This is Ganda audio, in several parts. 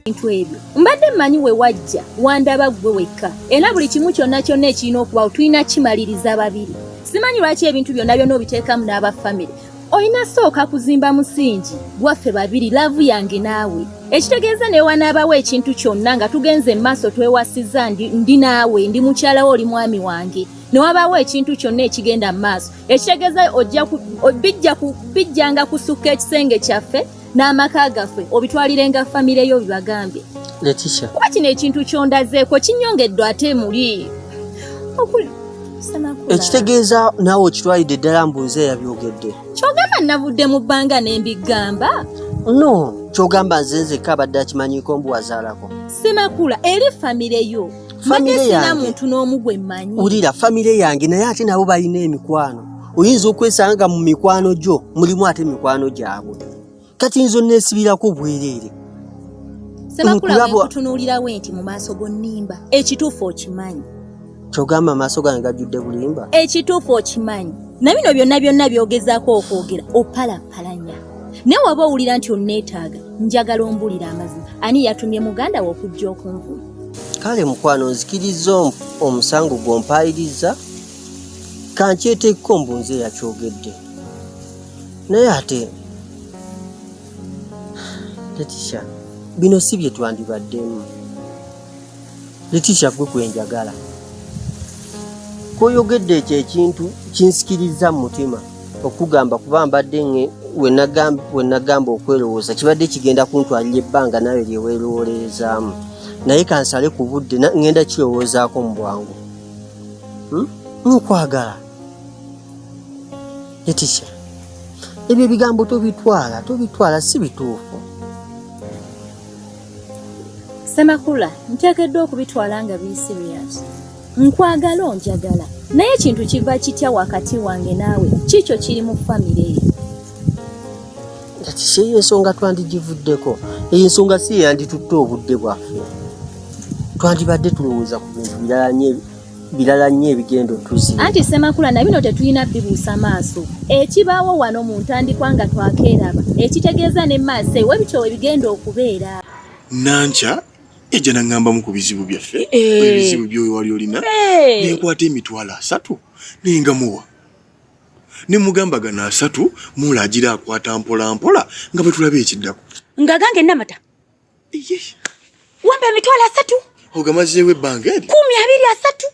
ebintu ebyo mbadde mmanyi we wajja wandaba ggwe wekka era buli kimu kyonna kyonna ekirina okubawo tulina kimaliriza babiri simanyi lwaki ebintu byonna byonna obiteekamu n'aba famire olina sooka kuzimba musingi gwaffe babiri laavu yange naawe ekitegeeza naye wanaabawo ekintu kyonna nga tugenze mu maaso twewasizza ndi naawe ndi mukyalawo oli mwami wange ne wabaawo ekintu kyonna ekigenda mu maaso ekitegeeza bijjanga kusukka ekisenge kyaffe n'amaka gaffe obitwalirenga famire yo bibagambye letisha kuba kino ekintu kyondazeeko kinyongeddwa ate muli ekitegeeza naawe okitwalidde ddala mbuuze yabyogedde kyogamba navudde mu bbanga ne mbigamba no kyogamba nzenzeka abadde akimanyiko mbu wazaalako semakula eri famire yo famire yange muntu n'omu gwe mmanyi wulira famire yange naye ate nabo balina emikwano oyinza okwesanga mu mikwano gyo mulimu ate mikwano gyabwe kati nzo nesibirako bwereere sebakulabekutunuulirawo nti mu maaso gonnimba ekituufu okimanyi kyogamba amaaso gange gajjudde bulimba ekituufu okimanyi na bino byonna byonna byogezako okwogera opalapalanya naye waba owulira nti onneetaaga njagala ombulira amazima ani yatumye muganda we okujja okunvuma kale mukwano nzikiriza omusango gwompayiriza kankyeteekko mbu nze yakyogedde naye ate letisha bino si bye twandibaddemu letisha gwe gwenjagala koyogedde ekyo ekintu kinsikiriza mu mutima okugamba kuba mbadde wenagamba okwerowooza kibadde kigenda kuntwalira ebbanga nawe lyewerowoleezaamu naye kansale ku budde ngenda kirowoozaako mu bwangu hmm? nokwagala etisha ebyo ebigambo tobitwala tobitwala si bituufu semakula nteekeddwa okubitwala nga biri serious nkwagala onjagala naye ekintu kiva kitya wakati wange naawe kiikyo kiri mu famire eyo kati seeyo ensonga twandigivuddeko eyo ensonga si yeyanditutte obudde bwaffe twandibadde tulowooza ku bintu birala nyo birala nnyo ebigendo tuzi anti semakula na bino tetulina bibuusa maaso ekibaawo wano mu ntandikwa nga twakeeraba ekitegeeza ne maaso ewe bityo ebigenda okubeera nankya ejja naŋŋambamu ku bizibu byaffe eh. ebizibu byoyo wali olina eh. nenkwata emitwalo asatu nengamuwa ne mugamba gano asatu muula agira akwata mpola mpola nga bwe tulaba ekiddako nga gange namata wambe emitwalo asatu ogamazeewo ebbanga eri kumi abiri asatu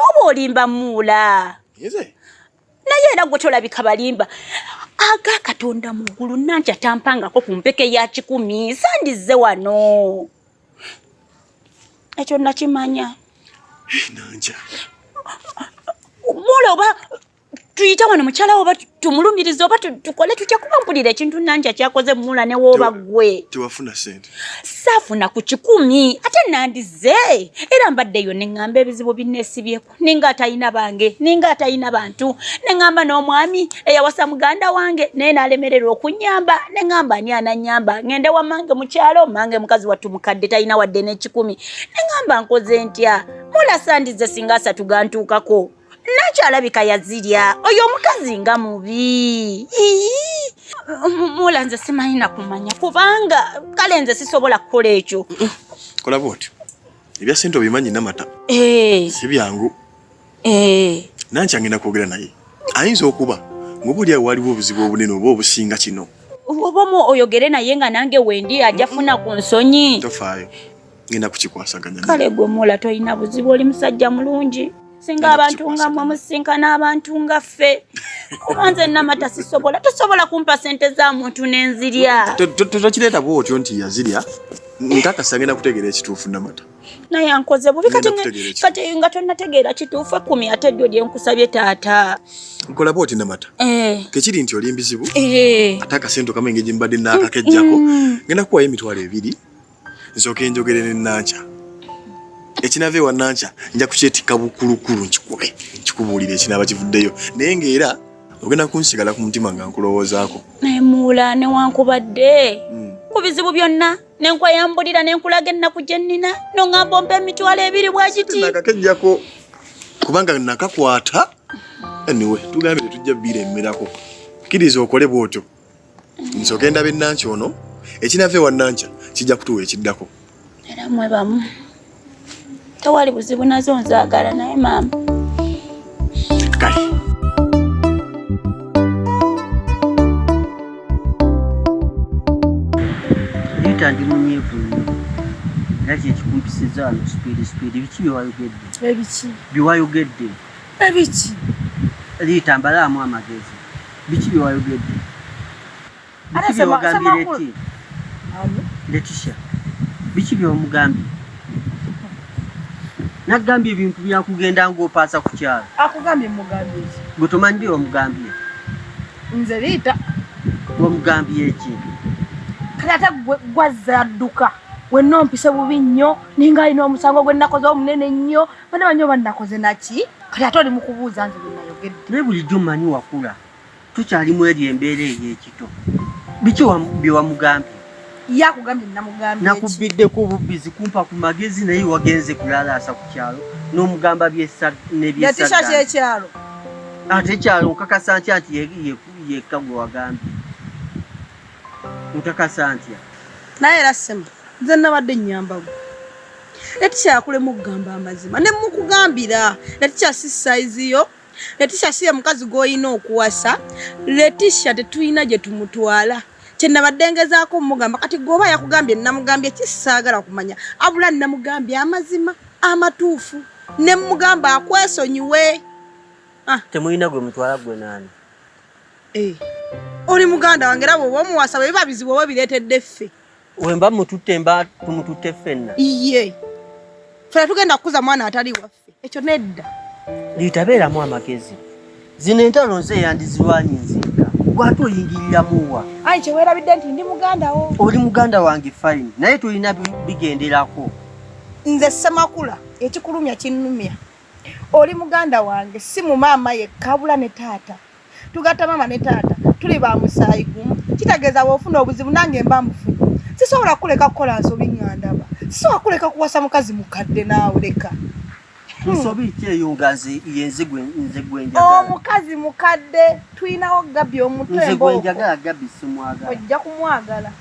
oba olimba muula naye era gwe tolabika balimba aga katonda mu ggulu nanti atampangako ku mpeke ya kikumi sandizze wano ekyo nakimanya enanja mula oba tuyita wano mukyala oba tumulumiriza oba tukole tutya kuba mpulira ekintu nanja kyakoze mula newooba gwe tewafuna sente saafuna ku kikumi ate nandize era mbaddeyo neŋŋamba ebizibu binneesibyeku ninga atayina bange ninga atayina bantu nengamba n'omwami eyawasa muganda wange naye nalemererwa okunyamba nengamba ani ananyamba ngende wa mange mukyalo mange mukazi wattu mukadde talina wadde n'ekikumi nengamba nkoze ntya mulasandize singa asatu gantuukako nakyo alabika yazirya oyo omukazi nga mubi mula nze simanyi nakumanya kubanga kale nze sisobola kukola ekyo kolaba otyo ebya sente obimanyi namata eh. si byangu eh. nankya ngenda kwogera naye ayinza okuba ngoba oli awo waliwo obuzibu obunene oba obusinga kino oba omu oyogere naye nga nange wendi ajja funa ku nsonyi tofaayo ngenda kukikwasaganya kale gwe muula tolina buzibu oli musajja mulungi singa abantu nga mwe musinkana abantu nga ffe kuba nze namata sisobola tosobola kumpa sente za muntu nenzirya tokireeta bwotyo nti yazirya nkakasa ngenda kutegeera ekituufu namata naye ankoze bubi kati kati nga tonategeera kituufu ekumi ate ddyo lyenkusabye taata nkola bwoti namata eh. tekiri nti oli mbizibu eh. ate akasente okama engeri mbadde nakakejjako mm. ngenda kuwayo emitwalo ebiri nsooke njogere ne Nankya. Ekinava ewa Nankya nja kukyetikka bukulukulu nkikube nkikubuulire ekinaaba kivuddeyo naye ng'era ogenda kunsigala ku mutima nga nkulowoozaako. Naye muula newankubadde hmm. ku bizibu byonna ne nkweyambulira ne nkulaga ennaku gye nnina nongamba ompa emitwalo ebiri bwa kiti. Nakakejjako kubanga nakakwata anyway tugambire tujja biira emmerako. Kkiriza okole bw'otyo. nze ogenda be nanki ono ekinava ewa nanca kijja kutuwa ekiddako era mwe bamu tewali buzibu nazo nzaagala naye maama kale yita ndi munyivu era kyekikumpisizza wano sipiidi sipiidi biki byewayogedde ebiki byewayogedde Ebiki? Liita mbalaamu amagezi. Biki bye wayogedde? Biki bye wagambye Leti? Letisha. Biki bye wamugambye? Nagambye ebintu byakugenda ng'opaasa ku kyalo. Akugambye mugambye ki? Gwe tomanyi bye wamugambye? Nze Liita. Wamugambye ki? Kati ate gwazze adduka. wenna ompise bubi nnyo ninga alina omusango gwe nnakoze omunene nnyo Bana banyo banakoze naki? Kati atoli mukubuuza nze bwe nayogedde. Naye bulijjo manyi wakula. Tukyali mu eri embeera ey'ekito. Biki bye wamugambye? Ye akugambye namugambye ki? Nakubbiddeko obubbizi kumpa ku magezi naye wagenze kulalaasa ku kyalo n'omugamba nebyesagga. Ekyalo ate ekyalo nkakasa ntya nti yekka gwe wagambye? Nkakasa ntya? Naye era ssema nze nabadde nnyamba gwe. Leticia yakulema okugamba amazima ne mukugambira Leticia si size yo Leticia si ye mukazi gw'olina okuwasa Leticia tetulina gye tumutwala kyenabadde ngezaako mugamba kati gweoba yakugambye namugambye kisaagala kumanya abula namugambye amazima amatuufu ne mugamba akwesonyiwe ah. temulina gwe mutwala gwe naani eh. oli muganda wange era bwoba omuwasa bwebiba bizibu oba bireetedde ffe Wemba mututte mba tumututte ffenna. Iye. Fela tugenda kukuza mwana atali waffe. Ekyo nedda. Litabeeramu amagezi. Zino entalo nze yandizirwanyi nzekka. Gwate oyingirira muwa. Ayi kyewerabidde nti ndi muganda wo. Oli muganda wange fine. Naye tulina bigenderako. Nze Ssemakula ekikulumya kinnumya. Oli muganda wange si mu maama yekka wabula ne taata. tugatta maama ne taata tuli ba musaayi gumu kitegeeza bwofuna obuzibu nange mba mufuna sisobola kuleka kukola nsobi ngandaba sisobola kuleka kuwasa mukazi mukadde naawe leka hmm. nsobi ki eyo nga yenze gwenjagala omukazi mukadde tulinawo gabi omutwe nze gwenjagala gabi simwagala ojja kumwagala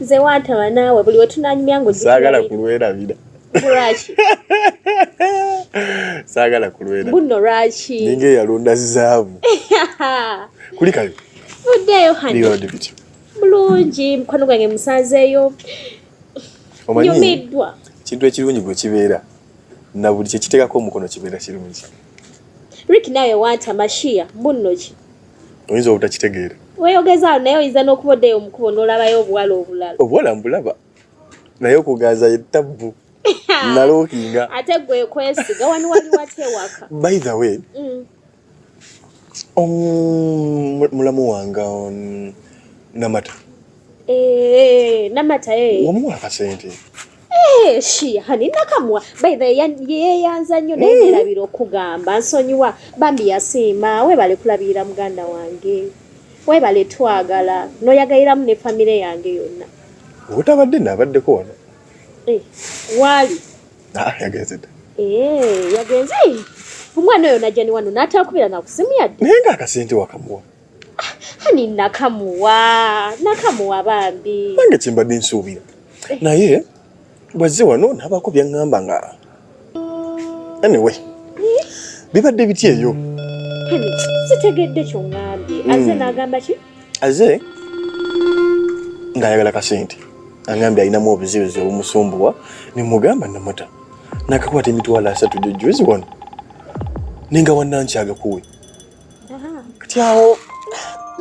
nze wantaba naawe buli wetunanyumya ngo saagala kulwerabira lwaki saagala kulwera buno lwaki ninga eyalonda zaabu kulikayo uddeeyo hani bulungi mukwano gwange musanzeeyo nyumiddwa kintu ekirungi gwe kibeera na buli kyekiteekako omukono kibeera kirungi rik nawe wanta mashiya bunno ki oyinza obutakitegeera weyogeza naye oyinza n'okuba oddeyo omukubo n'olabayo obuwala obulala obuwala mbulaba naye okuganza ye tabbu nalookinga ate gwe kwesiga wani wali watya ewaka by the way mm. mulamu wange namata eh, namata eh. wamuwa akasente Eh, shiha ninakamwa by the yeyanza nnyo naye eh. nerabira okugamba nsonyiwa bambi yasiima webale kulabirira muganda wange webale twagala noyagaliramu ne famire yange yonna obutabadde nabaddeko wano eh, waali ah, yagenze dda yagenze omwana oyo najjani wano natakubira nakusimu yadde naye nga akasente wakamuwa ani nakamuwa nakamuwa bambi nange kyembadde nsuubira eh. naye bwazze wano nabaako byaŋŋamba nga anyway eh? bibadde biti eyo sitegedde kyoŋambye hmm. aze nagamba ki aze ng'ayagala kasente angambye alinamu obuzibuzi obumusumbuwa nemugamba namuta nakakwata emitwalo asatu gyojjuzi wano nenga wanankyaga kuwe kati awo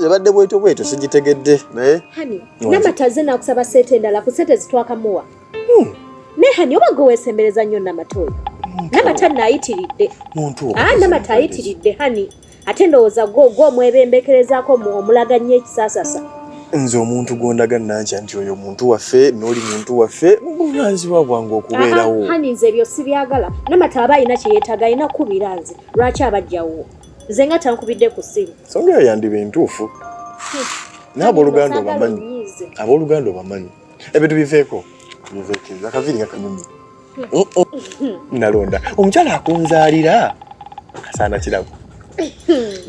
ebadde bwetyo bwetyo sigitegedde naye namata ze nakusaba sente endala ku sente zitwakamuwa hmm. naye hani oba gwe wesembereza nnyo namata oyo namata nayitiridde ah, namata ayitiridde hani ate ndowooza gwo gwo omwebembekerezaako omulaga nnyo ekisasasa nze omuntu gwondaga nankya nti oyo omuntu waffe noli muntu waffe buvunaanyizibwa bwange okubeerawo hani nze ebyo sibyagala namata aba alina kyeyetaaga alina kukubira nze lwaki abajjawo nze nga tankubidde ku ssimu songa eyo yandiba entuufu hmm. naye abooluganda obamanyi abooluganda obamanyi ebintu biveeko biveeko akaviiri nga kanyumi hmm. oh, oh. hmm. nalonda omukyala akunzaalira akasaana kirabo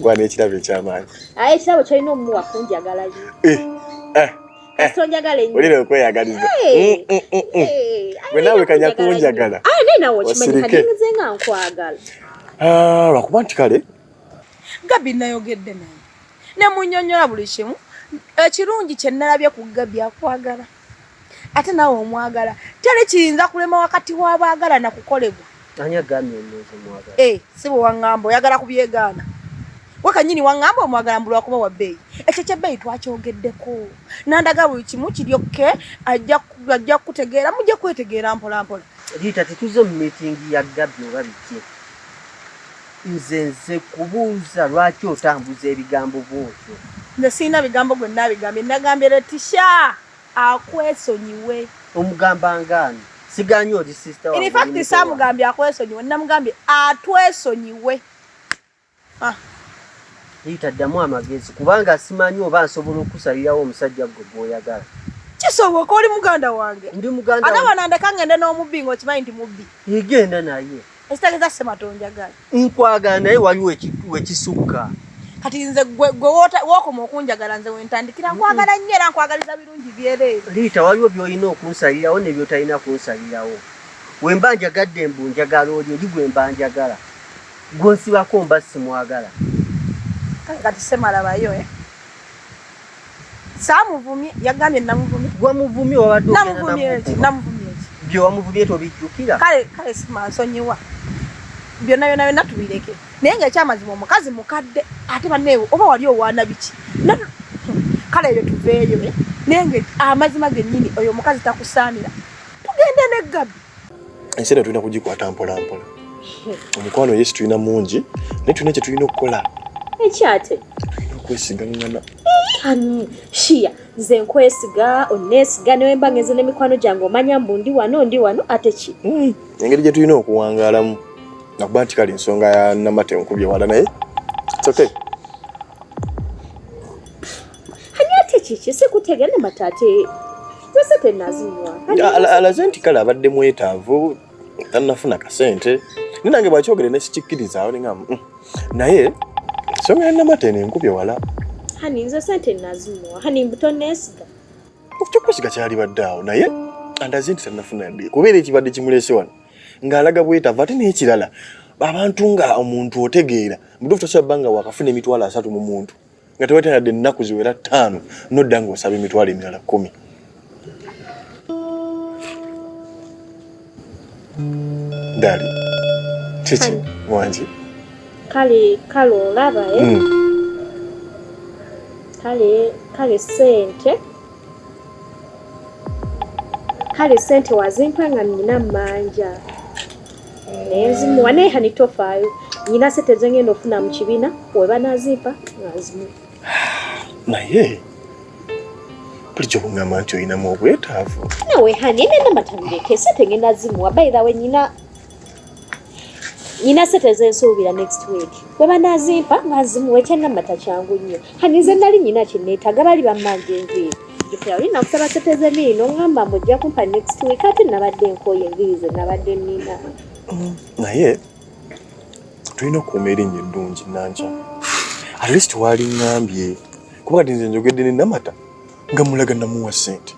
gwana ekirabo ekyamaanyi aye ekirabo kyolina omumuwa kunjagalayo eh, eh. kasita onjagala ennyo ulira okweyagaliza mm, mm, mm, gwe naawe kanya kunjagala ah, naye nawe okimanyiagenze nga nkwagala ah, lwakuba nti kale gabi nayogedde naye nemunyonyola buli kimu ekirungi kyenalabye ku gabi akwagala ate nawe omwagala teri kiyinza kulema wakati w'abaagala nakukolebwa Eh, si bwe waŋŋamba oyagala kubyegaana we kanyini waŋŋamba omwagala mbu lwakuba wa bbeeyi ekyo kyebbeeyi twakyogeddeko nandaga buli kimu kiri okke ajja kukutegeera mujja kwetegeera mpolampola riita tetuze mu miitingi ya gabbi oba biki nze nze kubuuza lwaki otambuza ebigambo bwotyo nze sirina bigambo gwe nabigambye nagambye letisha akwesonyiwe omugamba ngaani siganye oli sister in fact samugambye akwesonyiwe namugambye atwesonyiwe ah. yita ddamu amagezi kubanga simanyi oba nsobola okukusalirawo omusajja gwe gwoyagala kisoboka oli muganda wange ndi muganda ate wanandeka ngende n'omubbi ngaokimanyi nti mubbi igenda naye Ekitegeza sema tonjagala. Nkwagala naye waliwo ekisukka. Kati nze gwe gwe wokoma okunjagala nze wentandikira nkwagala nnyo era nkwagaliza birungi byereere. Liita waliwo by'olina okunsalirawo ne by'otalina kunsalirawo. We mba njagadde mbu njagala oli oli gwe mba njagala. Gw'onsibako mba simwagala. Kati sema labayo eh. saamuvumye yagambye namuvumye gwe muvumye wabadde namuvumye eki namuvumye eki bye wamuvumye tobijjukira kale kale simansonyiwa byonna byonna byonna tubireke naye nga ekyamazima omukazi mukadde ate baneewe oba wali owaana biki kale ebyo tuveeyo eh? naye nga amazima gennyini oyo omukazi takusaanira tugende ne gabi ensi eno tulina kugikwata mpolampola omukwano yesu tulina mungi naye tulina kye tulina okukola ekyate tulina okwesigaŋŋana shiya nze nkwesiga onesiga newemba ngenze nemikwano gyange omanya mbu ndi wano ndi wano ate ki hmm, engeri gye tulina okuwangaalamu nakuba nti kale ensonga ya namate nkubye wala naye it's okay ani ate kiki sikutegera ne mataate yose tenazinywa alaze nti kale abadde mwetaavu tanafuna kasente ni nange bwakyogere nesikikkirizaawo ninga mm. naye ensonga ya namata eno enkubye wala hani nze sente nazimuwa hani mbutonesiga kyokusiga kyalibadde awo naye andaze nti tanafuna yadde kubeera ekibadde kimulese wano ng'alaga bwetava ate n'ekirala abantu nga omuntu otegeera mutuufu tosobola bba nga wakafuna emitwalo asatu mu muntu nga tewali tayadde ennaku ziwera ttaano nodda ng'osaba emitwalo emirala kkumi dali kiki wangi kale kale olaba e eh? hmm. kale kale sente kale sente wazimpa nga nina manja naye nzimuwa naye hani tofaayo nyina sente zengenda ofuna mu kibiina webanazimpa nzimu naye bulijjo kugamba nti olinamu obwetaavu nawe hani nenda matamuleke sente ngenda zimuwa bayirawe nyina nyina sente zensuubira next week webanazimpa nga nzimuwa ekyanamata kyangu nnyo hani nze nali nyina kyeneetaga bali bammange enviiri jukira oli nakusaba sente z'enviiri n'oŋŋamba mbu ojja kumpa next week ate nabadde nkooye enviiri ze nabadde nnina mm, naye tulina okuuma erinnya eddungi nankya at least waali ŋŋambye kuba kati nze njogedde ne namata nga mulaga namuwa sente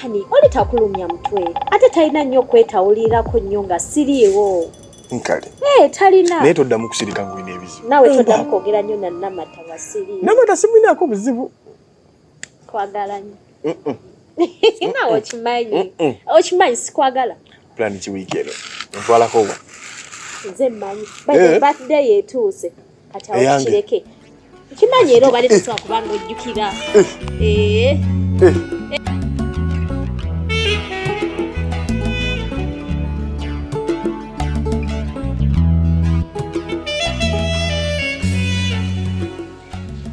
hani oli takulumya mutwe ate talina nnyo okwetawulirako nnyo nga siriiwo nkale eh, talina naye toddamu kusirika ngulina ebizibu nawe toddamu kwogera nnyo na namata nga siriiwo namata simwinaako buzibu Kwagala nyo. Sina okimanyi. Okimanyi sikwagala. Plan ki week eno. Ntwala ko. Nze manyi. By the eh? birthday yetuuse. Kati awo kireke. Kimanyi era obali tuswa kubanga ojjukira. Eh. Eh. eh.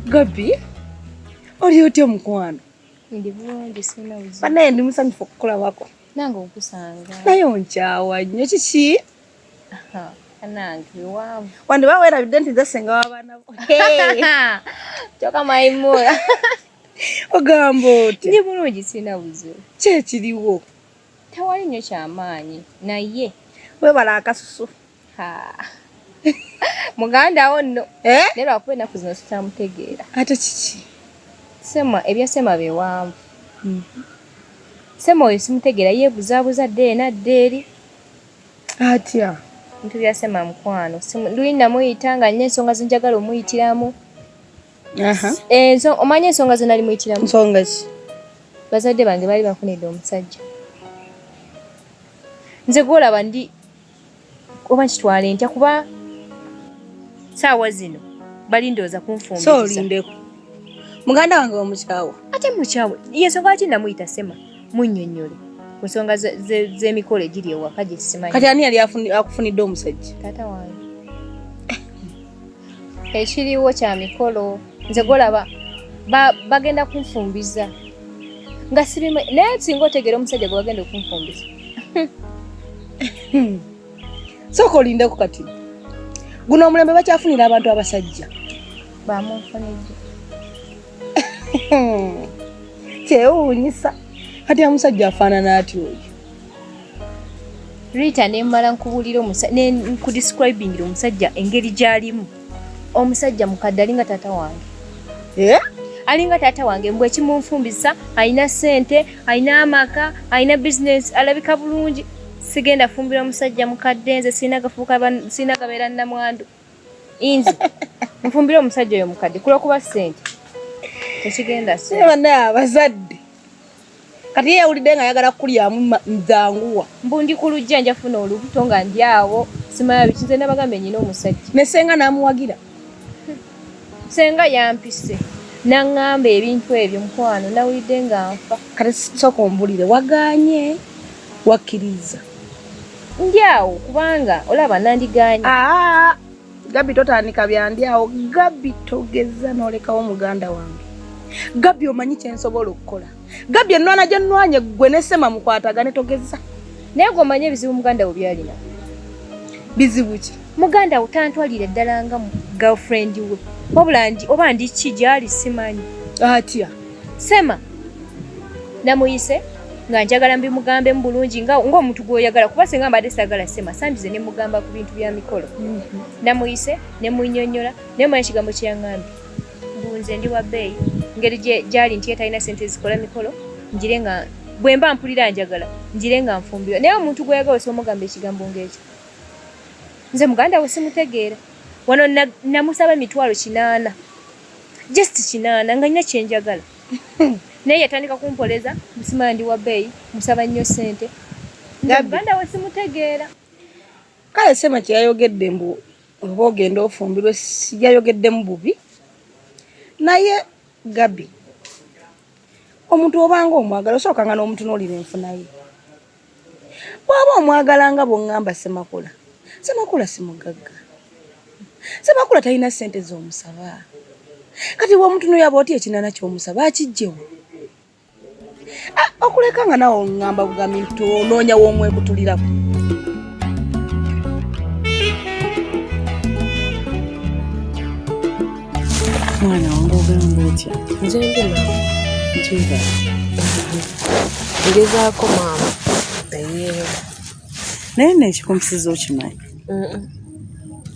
Gabi, oli otya omukwano? Ndi bulungi sina uzi. Banaye ndi musanyufu okukola wako. Nange okusanga. Naye onkyawa nnyo kiki? Anange wamu. Wandi ba wera bidenti za senga wa bana. Hey. Choka maimura. Ogambo. Ndi bulungi sina uzi. Kye kiriwo. Tewali nyo kyamaanyi naye. Webale akasusu. Haa. Muganda wo no. Eh? Nero akuwe na kuzino sitamutegeera. Ate kiki? Sema ebya sema bewanvu. Mm -hmm. Sema oyo simutegeera yebuzabuza deena deeri. Atya. Ntu bya sema mkwano. Simu, luina muyita nga nne ensonga zinjagala omuyitiramu. Eh, omanya ensonga ze nali muyitiramu nsonga ki bazadde bange baali bafunidde omusajja nze gwolaba ndi oba nkitwale ntya kuba saawa zino bali ndooza kunfumbiriza muganda wange wamukyawa ate mukyawe yensonga lwaki namuyita sema munyonyole ku nsonga z'emikolo egiri ewaka gyesimanyi kati ani yali akufunidde omusajja taata wange ekiriwo kya mikolo nze golaba bagenda kunfumbiza nga sirimu naye singa otegeera omusajja gwe bagenda okunfumbiza sooka olindeku kati guno omulembe bakyafunira abantu abasajja bamunfunidde kyewuunyisa kati amusajja afaanana atya oyo Rita ne mmala nkubulira omusajja ne nkudescribingira omusajja engeri gy'alimu omusajja mukadde alinga taata wange eh? alinga taata wange mbwe ekimunfumbisa alina ssente alina amaka alina bizinesi alabika bulungi sigenda fumbira omusajja mukadde nze sirina gafuuka sirina gabeera nnamwandu inzi nfumbire omusajja oyo mukadde kulwokuba sente tekigenda sibana abazadde kati yeyawulidde nga ayagala kukulyamu nzanguwa mbu ndi ku lujja njafuna olubuto nga ndi awo simala bikize nabagambe nyina omusajja ne senga namuwagira senga yampise naŋŋamba ebintu ebyo mukwano nawulidde nga nfa kati sooka ombulire waganye wakkiriza ndi awo kubanga olaba nandigaanyi ah, gabi totandika byandi awo gabi togeza nolekawo muganda wange gabi omanyi kyensobola okukola gabi enwana gyenwanye gwe nesema mukwatagane togeza naye gwe omanyi ebizibu muganda wo byalina bizibu ki muganda wo tantwalire ddala nga girlfriend we wabula oba ndi ki gyali simanyi atya Sema namuyise nga njagala mbimugambe mu bulungi nga ng'omuntu gw'oyagala kuba senga mbadde saagala sema sandize ne mugamba ku bintu bya mikolo mhm. namuyise ne munyonyola naye manya ekigambo kye yangambye bunze ndi wa bbeeyi ngeri gyali nti etalina sente ezikola mikolo njire nga bwe mba mpulira njagala njire nga nfumbirwa naye omuntu gw'oyagala osobola omugamba ekigambo ng'ekyo nze muganda we simutegeera wano namusaba emitwalo kinaana just kinaana nga nina kyenjagala naye yatandika kumpoleza musimala ndi wabeeyi musaba nnyo sente muganda we simutegeera kale sema kyeyayogedde mbu oba ogenda ofumbirwe sijayogeddemu bubi naye gabi omuntu obanga omwagala osookanga n'omutunuulira enfunaye bwaba omwagala nga bwongamba semakula semakula simugagga semakula talina sente zomusaba kati womutuno yaba oti ekinana kyomusaba akijjewo ah, okuleka nga nawe ongamba bugambi nti onoonya womwekutulirako mwana wange ogamba otya nze ndi maama nkiga ngezaako maama naye naye neekikumpisiza okimanyi